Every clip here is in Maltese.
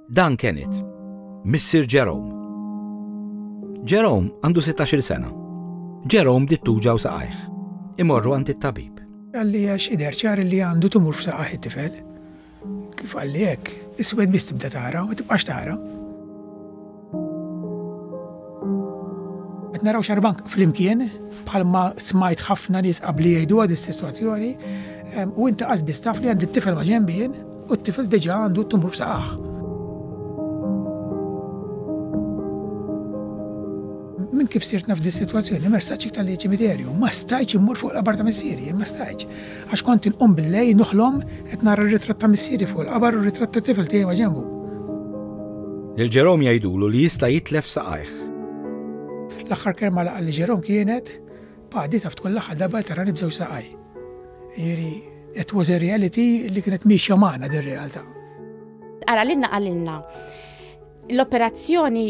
Dan Kenneth, missier Jerome. Jerome għandu 16-il sena. Jerome dittuġa u saqajh. Imorru għand it-tabib. Għalli għax idher ċar li għandu tumur f'saqaħ it-tifel. Kif għalli hekk, iswed biss tibda tara u tibqax tara. Qed naraw xarbank flimkien bħalma smajt ħafna nies qabli jgħiduha din is-sitwazzjoni u inti qasbis taf li għandi t-tifel ma' ġenbien u t-tifel diġà għandu t-tumur f'saqaħ. Min kif sirt naf dis-sitwazzjoni, mersaċ iktar li ċimiterju, ma stajċ immur fuq l-abar ta' missieri, ma stajċ. Għax kont inqum bil-lejl noħlom qed nara r-ritratt ta' missieri fuq il-qabar u r-ritratt ta' tifel tiegħi ma' ġenbu. Lil Jerome jgħidulu li jista' jitlef saqajh. L-aħħar kelma li qalli Jerome kienet, Pa, di taf tkun l-aħħar darba li tarani b'żewġ saqajj. Jiġifieri, it was a reality li kienet miexja magħna din realtà. Ara lilna qalilna. L-operazzjoni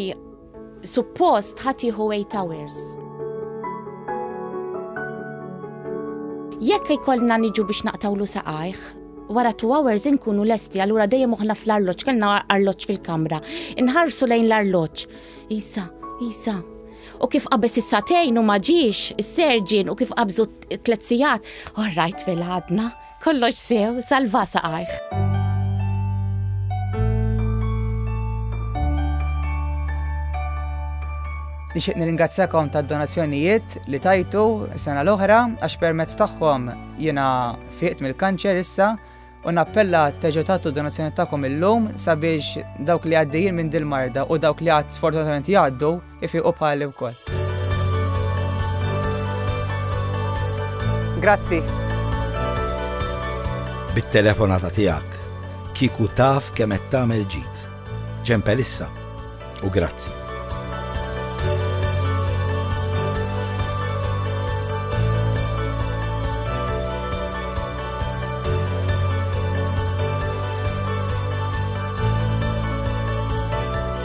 suppost ħatiħu 8 hours. Jekk ikollna niġu biex naqtawlu saqajh, wara 2 hours inkunu lesti, allura dejjem uħna fl-arloġġ, kellna arloġġ fil-kamra. Inħarsu lejn l-arloġġ. Isa, isa, u kif qabeż is-satejn u ma ġiex, is-serġin u kif qabżu tliet sigħat, orrajt fil-ħadna. Kollox sew, salva saqajh. Nixtieq nirringrazzjakom tad-donazzjonijiet li tajtu sena l-oħra għax permezz tagħhom jiena fiqt mill-kanċer issa u nappella teġu tagħtu donazzjoni tagħkom illum sabiex dawk li għaddejjin minn dil-marda u dawk li għad sfortunatament jgħaddu Ifiqu bħali wkoll. Grazzi. Bit-telefonata tiegħek kieku taf kemm qed tagħmel ġid. Ċempel issa u grazzi.